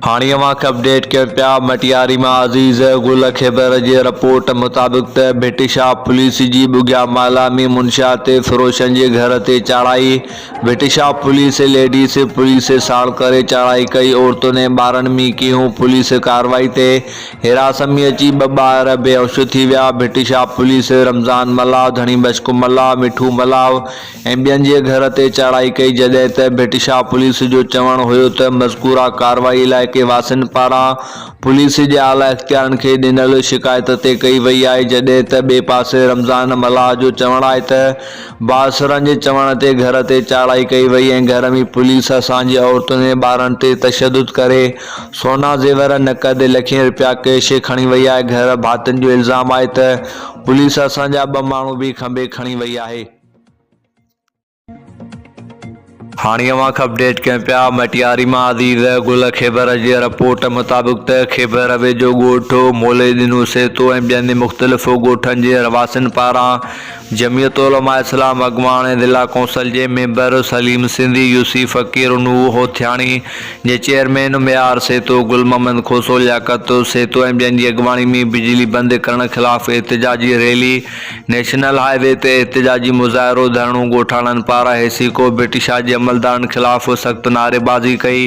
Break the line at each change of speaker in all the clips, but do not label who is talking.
هاڻي اوهان کي اپڊيٽ ڪيون پيا مٽياري مان عزيز گل خيبر جي رپورٽ مطابق ته ڀٽ شاهه پوليس جي ٻگهيا مالا ۾ منشيات فروشن جي گهر تي چاڙهائي Bhit Shah police ladies police ساڻ ڪري چاڙهائي ڪئي عورتن ۽ ٻارن ۾ ڪيون پوليس ڪاروائي تي هراس ۾ اچي ٻه ٻار بيهوش ٿي ويا ڀٽ شاهه پوليس رمضان ملاح ڌڻي مشڪ ملاح مٺو ملاح ۽ ٻين جي گهر تي چاڙهائي ڪئي جڏهن ته ڀٽشاهه پوليس جو چوڻ هيو ته مذڪوره ڪارروائي علائقي واسين پاران پوليس جي اعليٰ اختيارين کي ڏنل شڪايت تي ڪئي وئي آهي جڏهن ته ٻئي پاسي رمضان ملاح جو چوڻ آهي ته بااثرن جي چوڻ تي گهر تي چاڙهائي ڪئي وئي ۽ گهر ۾ پوليس اسان جي عورتن ۽ ٻارن تي تشدد ڪري سونا زيور نقد لکين رپيا ڪيش کڻي وئي آهي گهر ڀاتين جو الزام آهي ته پوليس اسان جا ٻه ماڻهو به کنڀي کڻي وئي آهي. هاڻي اوهان کي اپڊيٽ ڪيون پيا مٽياري مان عزيز گل خيبر جي رپورٽ مطابق ته خيبر ويجهو ڳوٺ مولي ڏنو سيتو ۽ ٻين مختلف ڳوٺن جي رهواسين پاران جمعيت علماء اسلام اڳواڻ ۽ ضلع ڪونسل جي ميمبر سليم سنڌي يوسي فقير انوح هوٿياڻي جي چيئرمين ميار سيتو گل محمد کوسو لياقت سيتو ۽ ٻين جي اڳواڻي ۾ بجلي بند ڪرڻ خلاف احتجاجي ريلي نيشنل هاء وي تي احتجاجي مظاهرو ڌرڻو ڳوٺاڻن پاران هيسي ڪو برٽشاهه جي عملدارن خلاف سخت نعريبازي ڪئي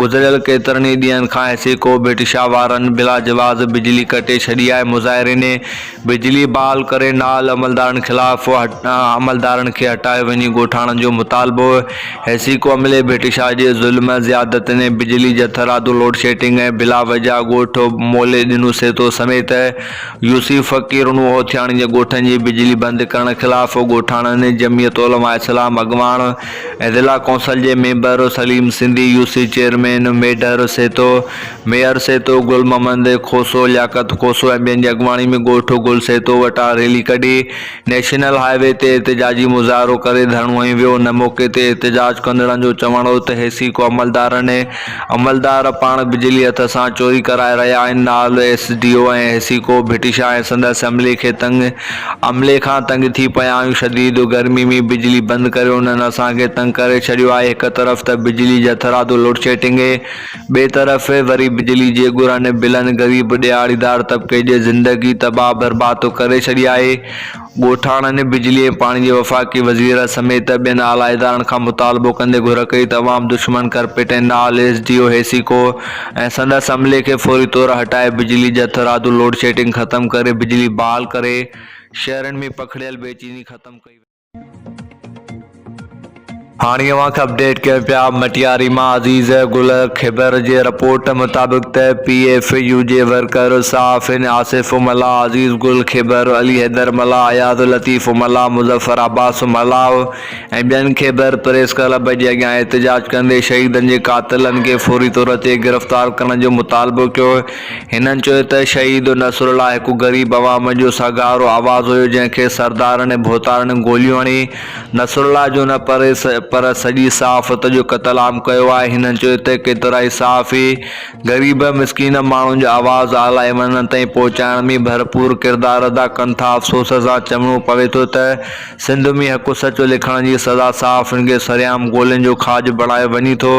گذريل ڪيترن ئي ڏينهن کان هيسي ڪو برٽشاهه وارن بلاجواز بجلي ڪٽي ڇڏي آهي مظاهرين بجلي بحال ڪري نال عملدارن خلاف عملدارن کي هٽايو وڃي ڳوٺاڻن جو مطالبو هيسي ڪو عملي برٽشاهه جي ظلم زيادتين بجلي جٿرادو لوڊشيٽنگ ۽ بلا وجهه ڳوٺ مولي ڏنو سيتو سميت يوسف فقير نوحوٿياڻي جي ڳوٺن جي بجلي بند ڪرڻ خلاف ڳوٺاڻن جمعيت علماء اسلام اڳواڻ ۽ ضلع ڪونسل جي member Saleem Sindhi, UC chairman Medhar Seetu, mayor Seetu, Gul Muhammad Khoso, Liaquat Khoso ۽ ٻين جي اڳواڻي ۾ ڳوٺ گل سيتو وٽان ريلي ڪڍي نيشنل هاء وي تي احتجاجي مظاهرو ڪري ڌرڻو هنيو ويو، ان موقعي تي احتجاج ڪندڙن جو چوڻ هو ته ايس اي ڪو عملدارن ۽ عملدار پاڻ بجلي هٿ سان چوري ڪرائي رهيا آهن، نالو S D O ۽ S A ڪو ڀٽيشا ۽ سندس عملي کي تنگ عملي کان تنگ ٿي پيا آهيون، شديد گرمي ۾ بجلي بند ڪري انهن اسان کي تنگ ڪري ڇڏيو آهي، هڪ طرف ته بجلي جٿرادو لوڊشيڊنگ اي. ٻئي طرف وري بجلي جي ڳرن بلن غريب ڏيهاڙيدار طبقي جي زندگي تباهه برباد ٿو ڪري ڇڏي آهي. ڳوٺاڻن بجلي ۽ پاڻي جي وفاقي وزير سميت ٻين اعليٰ ادارن کان مطالبو ڪندي گهر ڪئي ته عوام دشمن ڪرپٽ نال ايس ڊي او هيسيڪو ۽ سندس عملي کي فوري طور هٽائي بجلي جي هٿرادو لوڊشيڊنگ ختم ڪري بجلي بحال ڪري شهرن ۾ پکڙيل بيچيني ختم ڪئي وڃي. هاڻي اوهان کي اپڊيٽ ڪيون پيا مٽياري مان عزيز گل خيبر جي رپورٽ مطابق ته P F U J worker صحافين آصف ملاح عزيز گل خيبر علي حيدر ملاح اياز لطيف ملاح مظفر عباس ملاح ۽ ٻين خيبر پريس ڪلب جي اڳيان احتجاج ڪندي شهيدن جي قاتلن کي فوري طور تي گرفتار ڪرڻ جو مطالبو ڪيو هنن چيو ته شهيد نصر الله هڪ غريب عوام جو سگهارو آواز هيو جنهن کي سردارن ۽ ڀوتارن گوليون هڻي نصر الله جو نه پر پر سڄي صحافت جو قتل عام ڪيو آهي هنن چيو ته ڪيترائي صحافي غريب مسڪين ماڻهن جو آواز اعليٰ ايوانن تائين پهچائڻ ۾ ڀرپور ڪردار ادا ڪن ٿا افسوس سان چوڻو پوي ٿو ته سنڌ ۾ حق سچ لکڻ جي سزا صحافين کي سرعام گولين جو کاڄ بڻايو وڃي ٿو.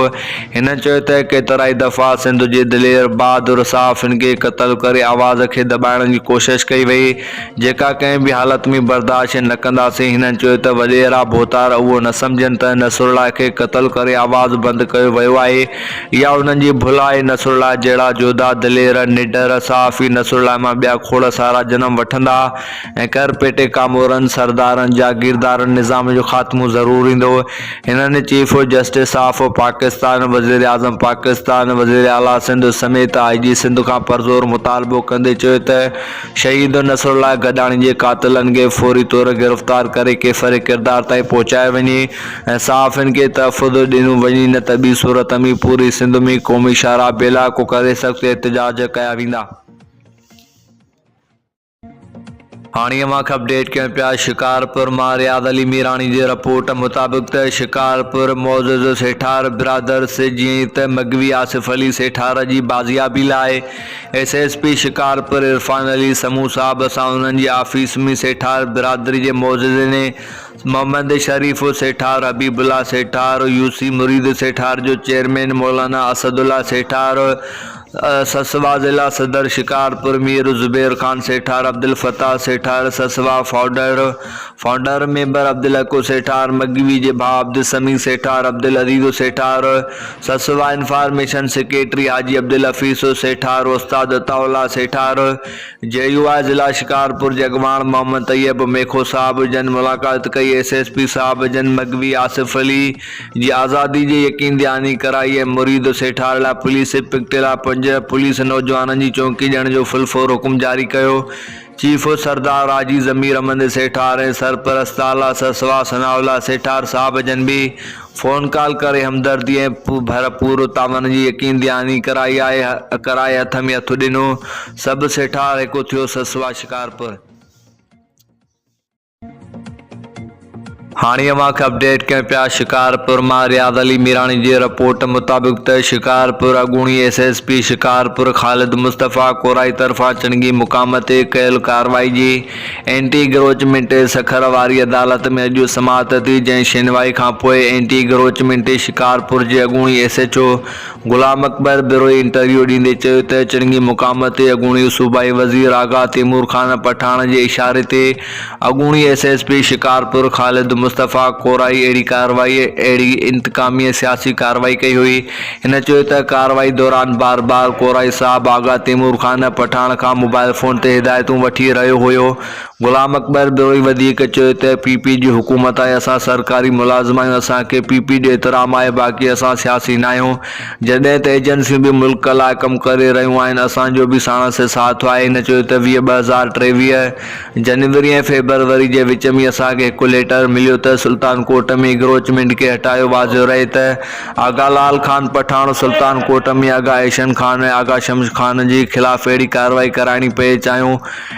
هن چيو ته ڪيترائي دفعا سنڌ جي دلير بهادر صحافين کي قتل ڪري آواز کي دٻائڻ جي ڪوشش ڪئي وئي، جيڪا ڪنهن به حالت ۾ برداشت نه ڪنداسين، هنن چيو ته وڏيرا ڀوتار اهو نه سمجهن ته نصرالله کي قتل ڪري آواز بند ڪيو ويو آهي، اها انهن جي ڀل آهي، نصرالله جهڙا جوڌا، دلير، نڊر صحافي نصرالله مان ٻيا کوڙ سارا جنم وٺندا. ۽ ڪرپيٽي ڪامورن، سردارن، جاگيردارن نظام جو خاتمو ضرور ايندو. هنن چيف جسٽس آف پاڪستان، وزيراعظم پاڪستان، وزير اعليٰ سنڌ سميت آء جي سنڌ کان پرزور مطالبو ڪندي چيو ته شهيد نصرالله گڏاڻي جي قاتلن کي فوري طور گرفتار ڪري ڪيفر ڪردار تائين پهچايو وڃي ۽ صحافين کي تحفظ ڏنو وڃي نه ته ٻي صورت ۾ پوري سنڌ ۾ قومي شاهراهه بي علائقو ڪري سخت احتجاج ڪيا ويندا. هاڻي اوهان کي اپڊيٽ ڪيون پيا شڪارپور مان رياض علي ميراڻي جي رپورٽ مطابق ته شڪارپور معزز سيٺار برادرس جيئن ئي ته مغوي آصف علي سيٺار جي بازيابي لاء S S P Shikarpur Irfan Ali Soomro صاحب سان انهن جي آفيس ۾ سيٺار برادري جي معززين محمد شريف سيٺار حبيب الله سيٺار يوسي مريد سيٺار جو چيئرمين مولانا اسد الله سيٺار سسوا ضلع صدر شڪارپور مير زبير خان سيٺار، عبدالفتاح سيٺار سسوا founder, Founder، member Abdul Haq Sethar مگهوي جي ڀاء عبدالسميع سيٺار، عبدالعزيز سيٺار سسوا انفارميشن سيڪريٽري حاجي عبدالحفيظ سيٺار استاد عطاء الله سيٺار جي يو آء ضلع شڪارپور جي اڳواڻ محمد طيب ميخو صاحب جن ملاقات ڪئي ايس ايس پي صاحب جن مگهوي آصف علي جي آزادي جي يقين دهاني ڪرائي ۽ مريد سيٺار لاء پوليس پڪٽي لاء پنج پوليس نوجوانن جي چونڪي ڏيڻ جو فل فور حڪم جاري ڪيو. چيف سردار راجي ضمير امندي سيٺار ۽ سرپرست آلا سرسوار ثناء الله سيٺار صاحب جن به فون ڪال ڪري همدردي ۽ ڀر پور تعاون جي يقين دهاني ڪرائي آهي ڪرائي هٿ ۾ هٿ ڏنو سڀ سيٺار هڪ ٿيو سرسوار شڪارپور هاڻي اوهان کي اپڊيٽ ڪيون پيا شڪارپور مان رياض علي ميراڻي جي رپورٽ مطابق ته شڪارپور اڳوڻي S S P Shikarpur Khalid Mustafa Korai طرفان چنگي مقام تي ڪيل ڪارروائي جي اينٽي اگروچمينٽ سکر واري عدالت ۾ اڄ سماعت ٿي جنهن شينوائي کانپوء اينٽي اگروچمينٽ شڪارپور جي اڳوڻي S H O Ghulam Akbar Brohi interview ڏيندي چيو ته چنگي مقام تي اڳوڻي صوبائي وزير آغا تيمور خان پٺاڻ جي اشاري تي اڳوڻي S S P Shikarpur Khalid Mustafa Korai اهڙي ڪارروائي اهڙي انتقامي سياسي ڪارروائي ڪئي هئي هن چيو ته ڪارروائي دوران بار بار ڪورائي صاحب آغا تيمور خان پٺاڻ کان موبائل فون تي هدايتون وٺي رهيو هيو غلام اڪبر بروهي وڌيڪ چيو ته پي پي جي حڪومت آهي اسان سرڪاري ملازم آهيون اسان کي پي پي جو احترام آهي باقي اسان سياسي ناهيون جڏهن ته ايجنسيون به ملڪ لاء ڪم ڪري رهيون آهن اسان جو به ساڻس سي ساٿ آهي هن چيو ته ويهه ٻه هزار ٽيويهه جنوري ۽ فيبروري جي وچ ۾ اسان کي هڪ ليٽر مليو ته سلطان ڪوٽ ۾ اگروچمينٽ کي هٽايو واضح رهي ته آغا لال خان پٺاڻ سلطان ڪوٽ ۾ آغا احسن خان ۽ آغا شمس خان جي خلاف اهڙي ڪارروائي ڪرائڻي پئي چاهيون